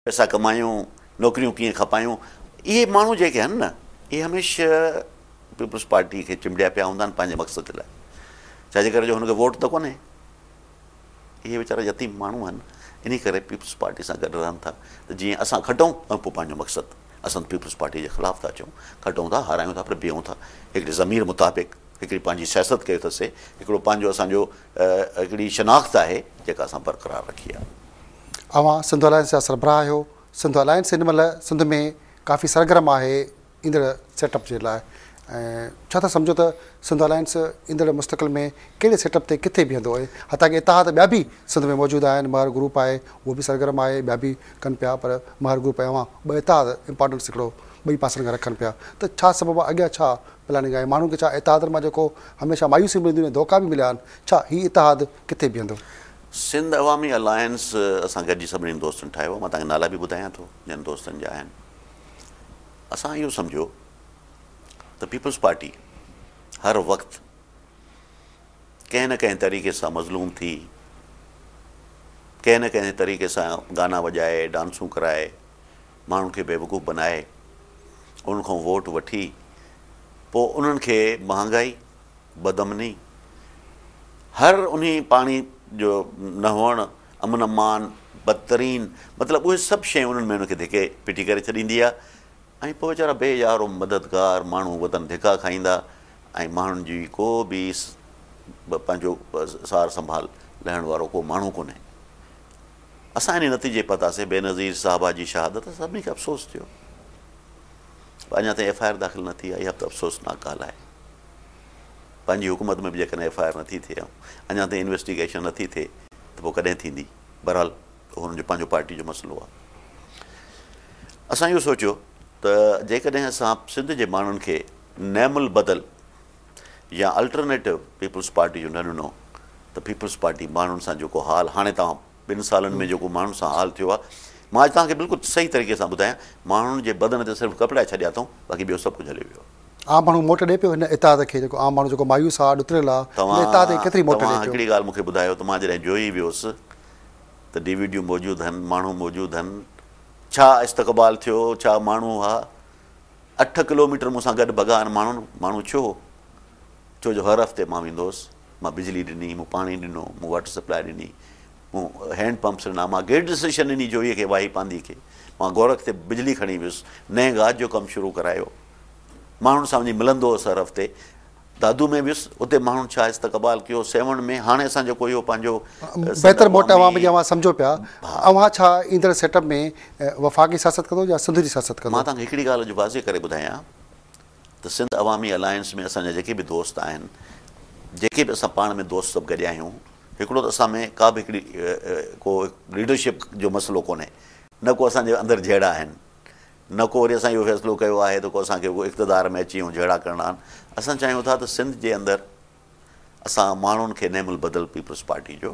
پئسا ڪمايون، نوڪريون ڪيئن کپايون، اهي ماڻهو جيڪي آهن نه اهي هميشه پيپلز پارٽي کي چنبڙيا پيا هوندا آهن پنهنجي مقصد لاء ڇاجي ڪري جو هن کي ووٽ ته ڪونهي اهي ويچارا يتيم ماڻهو آهن انهي ڪري پيپلز پارٽي سان گڏ رهن ٿا ته جيئن اسان کٽون ۽ پوء پنهنجو مقصد اسان پيپلز پارٽي جي خلاف ٿا چون کٽون ٿا هارايون ٿا پر بيهون ٿا هڪڙي ضمير مطابق هڪڙي پنهنجي سياست ڪيو ٿسي هڪڙو پنهنجو اسان جو هڪڙي شناخت آهي جيڪا اسان برقرار رکي آهي. اوهان سنڌ الائنس جا سربراهه آهيو، سنڌ الائنس هن مهل سنڌ ۾ ڪافي سرگرم آهي ايندڙ سيٽ اپ جي لاء ۽ ڇا ٿا سمجهو ته سنڌ الائنس ايندڙ مستقل ۾ ڪهڙي سيٽ اپ تي ڪٿي بيهندو ۽ حتيٰ ڪي اتحاد ٻيا به سنڌ ۾ موجود آهن مهر گروپ آهي اهو به سرگرم آهي ٻيا به ڪن پيا پر مهر گروپ ۽ اوهان ٻه اتحاد امپارٽنس هڪڙو ٻئي پاسن کان رکن پيا ته ڇا سبب آهي اڳيان ڇا پلاننگ آهي ماڻهن کي ڇا اتحادن مان جيڪو هميشه مايوسيون ملنديون ۽ ڌوڪا به مليا آهن ڇا هي اتحاد ڪٿي بيهندو. سنڌ عوامي الائنس اسان گڏجي سڀني دوستن ٺاهيو آهي مان توهان کي نالا به ٻڌايان ٿو جن دوستن جا آهن اسان اهو سمجهيو ته پيپلز پارٽي هر وقت ڪنهن نه ڪنهن طريقي سان مظلوم ٿي ڪنهن نه ڪنهن طريقي سان گانا وڄائي ڊانسون ڪرائي ماڻهن کي بيوقوف بنائي انهن کان ووٽ وٺي پوء انهن کي مهانگائي، بدامني، هر انهي پاڻي جو نه هئڻ، امن امان، بدترين مطلب اهي سڀ شيون انهن ۾ انهن کي ڌڪي پٽي ڪري ڇڏيندي آ ۽ پوء ويچارا بي يار و مددگار ماڻهو وطن ڌڪا کائيندا ۽ ماڻهن جي ڪو به پنهنجو سار سنڀال لهڻ وارو ڪو ماڻهو ڪونهي. اسان انهي نتيجي پهتاسين، بينظير صاحبه جي شهادت تي سڀني کي افسوس ٿيو پر اڃا تائين ايف آء آر داخل نه ٿي آهي، اها به ته افسوسناڪ ڳالهه آهي. پنهنجي حڪومت ۾ به جيڪڏهن ايف آء آر نه ٿي ٿئي ۽ اڃا تائين انويسٽيگيشن نه ٿي ٿئي ته پوء ڪڏهن ٿيندي؟ بهرحال اهو هنن جو پنهنجو پارٽي جو مسئلو آهي. اسان اهو سوچيو ته جيڪڏهن اسان سنڌ جي ماڻهن کي نعم البدل يا الٽرنيٽو پيپلز پارٽي جو نه ڏنو ته پيپلز پارٽي ماڻهن سان جيڪو حال هاڻي توهان ٻن سالن ۾ جيڪو ماڻهن سان حال ٿيو آهي مان اڄ توهان کي بلڪل صحيح طريقي سان ٻڌايان ماڻهن جي بدن تي صرف ڪپڙا ڇڏيا اٿئون باقي ٻيو سڀ ڪجهه هليو ويو آهي. عام ماڻهو موٽ ڏئي پيو هن اتحاد کي جيڪو عام ماڻهو جيڪو مايوس آهي ڏتريل آهي ان اتحاد کي ڪيتري موٽ ڏئي پيو. توهان هڪڙي ڳالهه مون کي ٻڌايو ته مان جڏهن جوهي ويس ته ڊي وي ڊيون موجود هن ماڻهو موجود هن ڇا استقبال ٿيو ڇا ماڻهو ها. اٺ ڪلوميٽر مون سان گڏ بگان ماڻهن ماڻهو ڇو هو؟ ڇو جو هر هفتي مان ويندو هوس. مان بجلي ڏني، مون پاڻي ڏنو، مون واٽر سپلاء ڏني، مون هينڊ پمپس ڏنا، مان گرڊ اسٽيشن ڏني جوئي کي، واهي پانڌي کي. مان گورک تي بجلي کڻي ويس، نئين گاج جو ڪم شروع ڪرايو. ماڻهن سان وڃي ملندو هوس هر هفتي. دادو ۾ ويس، اتي ماڻهن ڇا استقبال ڪيو، سيوهڻ ۾، هاڻي اسان جيڪو اهو پنهنجو سنڌ بهتر موٽ عوامي عوام جي اوهان سمجهو پيا، ها. اوهان ڇا ايندڙ سيٽ اپ ۾ وفاقي سياست ڪندو يا سنڌ جي سياست مان ڪندو؟ توهان کي هڪڙي ڳالهه اڄ واضح ڪري ٻڌايان ته سنڌ عوامي الائنس ۾ اسان جا جيڪي به دوست آهن، جيڪي به اسان پاڻ ۾ دوست سڀ گڏيا آهيون، هڪڙو ته اسان ۾ ڪا به هڪڙي ڪو ليڊرشپ جو مسئلو ڪونهي، نه ڪو اسان جي اندر جهيڙا آهن، نه ڪو وري اسان اهو فيصلو ڪيو آهي ته ڪو اسان کي اڳو اقتدار ۾ اچي ۽ جهيڙا ڪرڻا آهن. اسان چاهيون ٿا ته سنڌ جي اندر اسان ماڻهن کي نعم البدل پيپلز پارٽي جو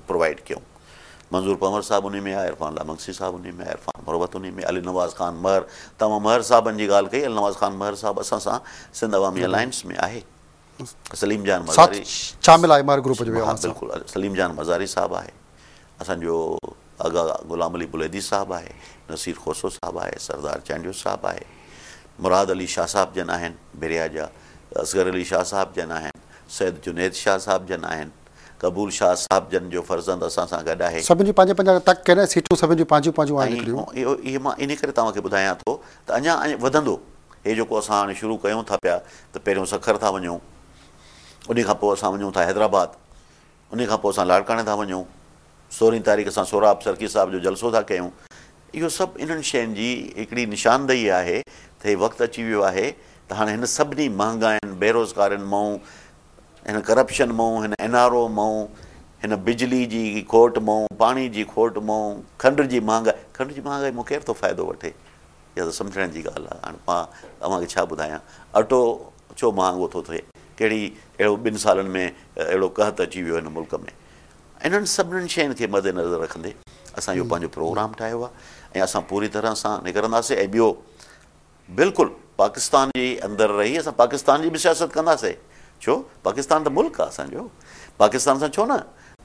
پرووائيڊ ڪيون. منظور پنهور صاحب انهي ۾ آهي، عرفان الله منگسي صاحب انهي ۾ آهي، عرفان مروت انهي ۾ آهي، علي نواز خان مهر، توهان مهر صاحبن جي ڳالهه ڪئي، علي نواز خان مهر صاحب اسان سان سنڌ عوامي الائنس ۾ آهي. سليم جان مزاري شامل آهي ماهر گروپ جو ويو آهيان بلڪل سليم جان مزاري صاحب آهي اسان جو اگا غلام علي بليدي صاحب آهي نصير خوسو صاحب آهي سردار چانڊيو صاحب آهي مراد علي شاهه صاحب جن آهن بريا جا اصغر علي شاهه صاحب جن آهن سيد جنيد شاهه صاحب جن آهن قبول شاهه صاحب جن جو فرزند اسان سان گڏ آهي. سڀن جون پنهنجا پنهنجا تڪ ڪين ۽ سيٽون سڀن جون پنهنجيون پنهنجون آهن هڪڙيون. ۽ اهو اهي مان انهي ڪري توهان کي ٻڌايان ٿو ته اڃا اڃ وڌندو. هي جيڪو اسان هاڻي شروع ڪيون ٿا پيا ته پهريون سکر ٿا وڃون، انهي کان پوء اسان وڃون ٿا حيدرآباد، انهي کان پوء اسان لاڙڪاڻي ٿا وڃون، سورهين تاريخ اسان سهراب سرڪي صاحب جو جلسو ٿا ڪيون. اهو سڀ انهن شين جي هڪڙي نشاندهي آهي ته هي وقت اچي ويو آهي ته هاڻي هن سڀني مهانگاين، بيروزگارين مئون هن ڪرپشن مئون، هن اين آر او مئون، هن بجلي جي کوٽ مئون، پاڻي جي کوٽ مئون، کنڊ جي مهانگائي، کنڊ جي مهانگائي مون ڪير ٿو فائدو وٺي؟ اها ته سمجهڻ جي ڳالهه آهي. هاڻ مان اوهان کي ڇا ٻڌايان؟ اٽو ڇو مهانگو ٿو ٿئي؟ ڪهڙي اهڙو ٻن سالن ۾ اهڙو قحط اچي ويو هن ملڪ ۾؟ انهن سڀني شين کي مد نظر رکندي اسان اهو پنهنجو پروگرام ٺاهيو آهي ۽ اسان پوري طرح سان نڪرنداسين ۽ ٻيو بلڪل پاڪستان جي اندر رهي اسان پاڪستان جي به سياست ڪنداسي ڇو پاڪستان ته ملڪ آ اسان جو پاڪستان سان ڇو نه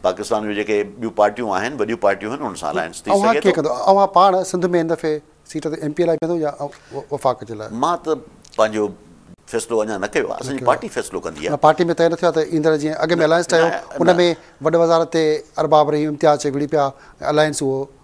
پاڪستان جو جيڪي ٻيون پارٽيون آهن وڏيون پارٽيون آهن انهن سان الائنس ٿي اوهان سگهي ڪيئن ٿو. ڪندو اوهان پاڻ سنڌ ۾ هن دفعي سيٽ تي ايم پي لاء بيهندو يا وفاق جي لاء. مان ته پنهنجو فيصلو اڃا نه ڪيو آ اسان جي پارٽي فيصلو ڪندي آ. نه پارٽي ۾ طئي نه ٿيو آ ته ايندڙ جيئن اڳ ۾ الائنس ٺهيو ان ۾ وڏ وزارت تي ارباب رحيم امتياز چي وڙهي پيا ۽ الائنس اهو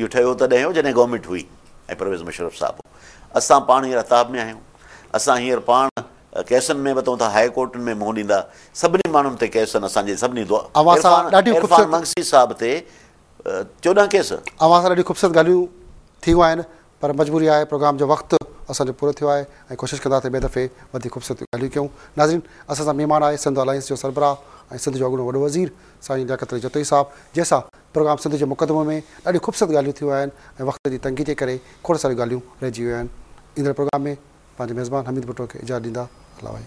اهو ٺهيو تڏهن هو جڏهن گورنمينٽ هئي ۽ پرويز مشرف صاحب هو. اسان پاڻ هينئر عتاب ۾ آهيون. اسان هينئر پاڻ ڪيسن ۾ به اٿون ٿا، هاء ڪورٽن ۾ منهن ڏيندا. سڀني ماڻهن تي ڪيس آهن اسان جي سڀني دو اوهان سان ڏاڍيون خوبصورت عرفان منگسي صاحب تي چوڏهن ڪيس. اوهان سان ڏاڍيون خوبصورت ڳالهيون ٿيون آهن. پر مجبوري آهي پروگرام جو وقت اسان جو پورو ٿيو آهي ۽ ڪوشش ڪندا ته ٻئي دفعي وڌيڪ خوبصورت ڳالهيون ڪيون. ناظرين اسان سان مهمان آهي سنڌ الائنس جو سربراهه ۽ سنڌ جو اڳوڻو وڏو وزير سائين لياقت علي جتوئي صاحب جنهن سان پروگرام سنڌ جي مقدمو ۾ ڏاڍيون خوبصورت ڳالهيون ٿيون آهن ۽ وقت جي تنگي جي ڪري کوڙ ساريون ڳالهيون رهجي ويون آهن ايندڙ پروگرام ۾ پنهنجي ميزبان حميد ڀٽو کي اجازت ڏيندا هلا وهي.